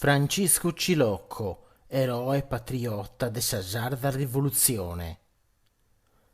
Franciscu Cilocco, eroe patriota de sa sarda rivolutzione.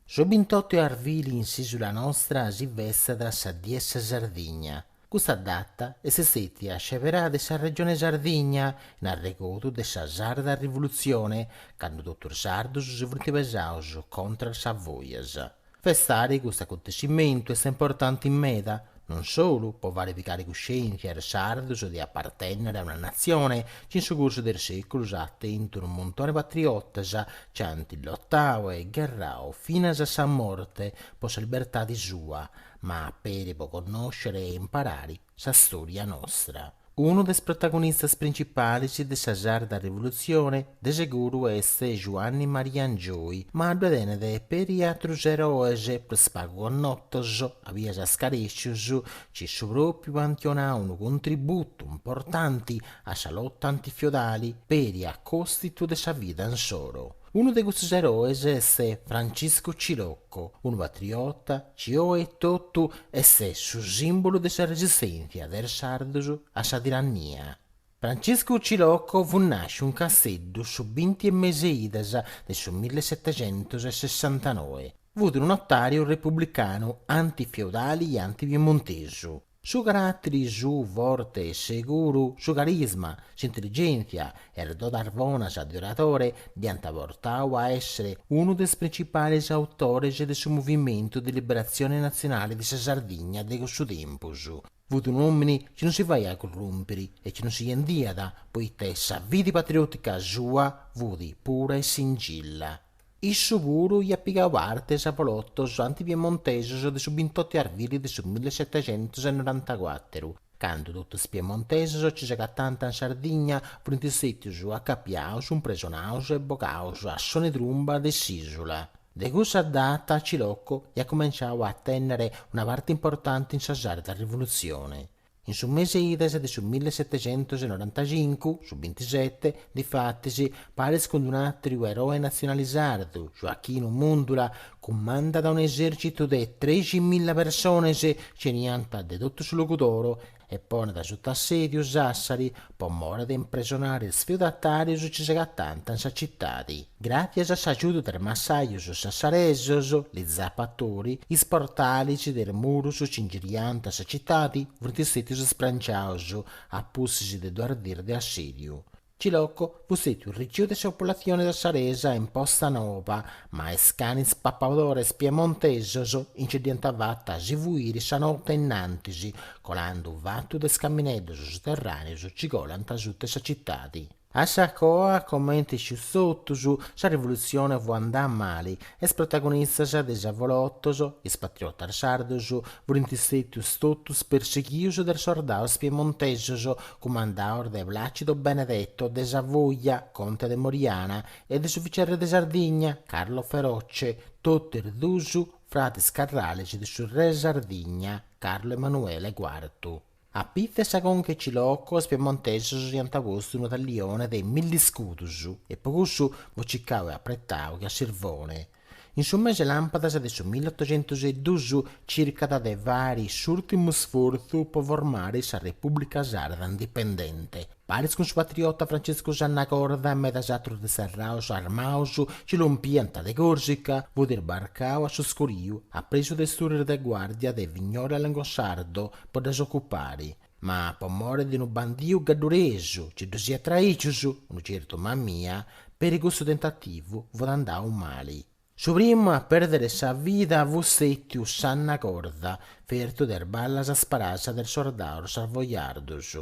Su bintottu 'e arvili in s'isula nostra si festat sa Die 'e sa Sardigna. Custa data est stetia sceberada de sa Regione Sardigna in arregodu de sa sarda rivolutzione cando totus is sardus si funt pesaus contra a is Savoias. Festare custu acontescimentu est importanti meda, non solu po fare pigare cuscièntzia a is sardos de apartènnere a una natzione chi in su cursu de is sèculos at tentu unu muntone 'e patriotas chi ant lotadu e gherradu finas a sa morte po sa libertade sua, ma peri po connòscere e imparare sa stòria nostra. Unu de is protagonistas principalis de sa sarda rivolutzioni de seguru est Juanni Maria Angioi, ma ddue tenet peri atrus eroes, prus pagu connotos, a bias scarècius, chi su pròpriu ant donau unu contributu importanti a sa lota antifiodali peri a còstitu de sa vida insoro. Unu de custos eroes est Franciscu Cilocco, unu patriota, chi oe etotu est su sìmbolu de sa resistèntzia de is sardos a sa tirannia. Franciscu Cilocco fut nàsciu in Casteddu su binti 'e mese 'e idas de su millesetecentos e sessantanoe. Fut unu notàriu republicanu anti-feudali e anti-piemontesu. Su caràtiri suu forte e seguru, su carisma, s'intelligèntzia e is dodas bonas de oradore dd'ant portau a èssere unu de is principalis autores de su Movimentu de Liberatzione Natzionale de sa Sardigna de cussu tempus. Fut un'òmini chi non si faiat currùmpiri e chi non si bendiat, poita sa fidi patriòtica sua fut pura e singilla. Issu puru iat pigau parti a is avolotos antipiemontesos de su bintotu 'e arvili de su milli setecentus e norantacuateru, candu totu is piemontesos chi s'agatànt in Sardigna, funt stètius acapiaus, impresonaus e bogaus a soni de trumba de s'ìsula. De cussa data Cilocco iat cumenciau a tènnere una parti importanti in sa sarda rivolutzioni. In su mese 'e idas de su millesetecentosenorantachincu, su bintisete, difatis, paris cun d-un'àtriu eroe natzionale sardu, Joachinu Mundula, cumandat un'esèrcitu de trexi milla persones, chi beniant de totu su Logudoro, e ponet suta assèdiu Sàssari, po more de impresonare is feudatàrius chi s'agatànt in sa citadi. Gràtzias a s'agiudu de is massajus sassaresus, li zapatori, is portalis de is murus chi ingiriànt sa citadi funt stètius sbranciaus a pustis de duas dis de assìdiu. Cilocco Fut stètiu riciu de sa populatzione sassaresa in Posta Nova, ma is canis papadores piemontesos nci dd'iant fata a si fuiri sa note innantis, colando fatu de is camineddos suterràneos ci colant suta sa citadi. A sa coa, comenti iscius totus, sa rivolutzione fut andà mali, Is protagonistas de is avolotos, is patriotas sardos, furint stètius totus perseghius de is sordaus piemontesos, cumandaus de Placido Benedetto de Savoia, conte de Moriana, e de su vicerre de Sardigna, Carlo Feroce, totu is duus fratis carrales de su re 'e Sardigna, Carlo Emanuele Quartu. A pitzu 'e sa conca 'e Cilocco is piemontesos iant postu unu tallione de milli iscudus e po cussu fut cicau e apretau che a sirvone. In su mese 'e làmpadas de su milliottocentus e dus circat de fari s'urtimu sfortzu po formari sa Repubblica Sarda indipendente. Paris cun su patriota Francescu Sanna Corda e medas atrus disterraus armaus ci lompiant de Corsica, fut isbarcau a su scuriu, apresu de is turris de guardia de Vignola a Longosardo po ddas ocupari, ma po mori de unu bandiu gadduresu ci ddus iat traicius, unu certu Mamia, peri cussu tentativu fut andau mali. Su primu a pèrdere sa vida fut stètiu Sanna Corda, fertu de is ballas isparàs de is sordaus savojardus.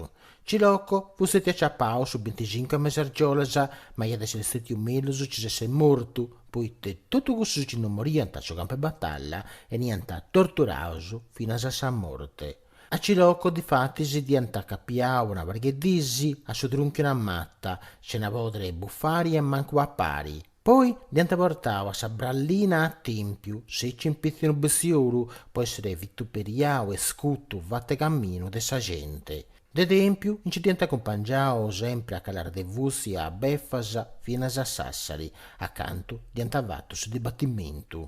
Cilocco fut stètiu aciapau su binticincu 'e mes'e argiolas, ma iat esser stètiu mellus ci s'esset mortu, poita totus cussus ci no moriant a su campu 'e batalla 'eniant torturaus finas a sa morte. A Cilocco difatis dd'iant acapiau una pariga 'e dis a su truncu 'e una mata, sena pòdere buffari e mancu papari. Poi dd'hiant portau a sa brallina a Tèmpiu, sèciu in pitzu 'e unu bestiolu, po èssere vituperiau e scutu fatu 'e caminu de sa gente. De Tèmpiu nci dd'hiant acumpangiau sempre a calàs de fusti e a befas finas a Sassari, a cantu dd'hiant fatu su dibatimentu.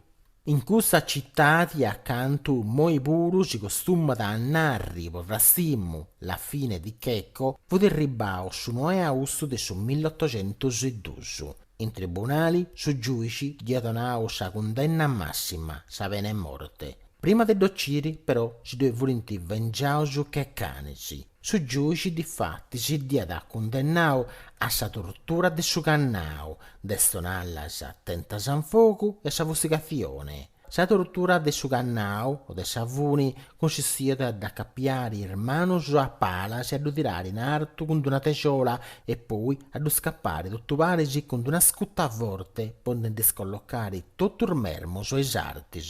In cussa citadi a cantu moi puru si costumat a narri po rastimu la fine di Checco fut erribau su noe 'e austu de su milliottocentus e dus in tribunali su giuici dd'iat donau sa cundenna massima sa pena 'e morte prima de dd'ociri però si ddoi furint vengiaus che canis Su giuici difatis dd'iat cundennau a sa tortura de su cannau, de is tonallas tentas in fogu e a sa fustigatzioni. Sa tortura de su cannau o de sa funi cunsistiat a dd'acapiari is manus a palas e a ddu tirari in artu cun d'una texola e poi a ddu scappari totu paris cun d'una scuta forte po ndi dd'iscollocari totus is mermus e is artis.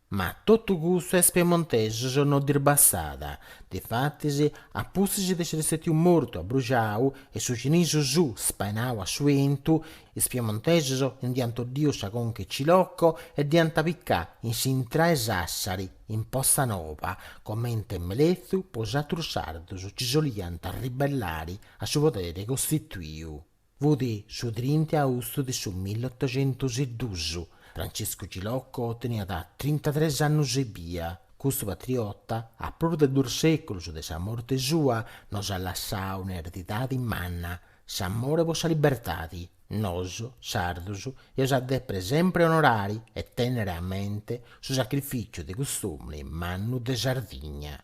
Ma totu custu a is piemontesus no ddis bastat, difatis a pustis de si essi stetiu mortu abbruxau e su cinisu suu spainau a su bentu, is piemontesus nd'iant boddiu sa conca 'e Cilocco e dd'iant picau in s'intra 'e Sassari, in Porta Nova, comente amelezu po is atrus sardus chi boliant arribellari a su poderi costituiu. Fut su trinta e austu de su milletoxentus e dus. Franciscu Cilocco teniat trintatres annus ebbia. Custu patriota, a prus de duus seculus de sa morte sua, nos at lassau un'eredidadi manna, s'amore po sa libertadi. Nos, sardus, eus a depere sempre onorari e tennere a mente su sacrificiu de cust'omini mannu de Sardigna.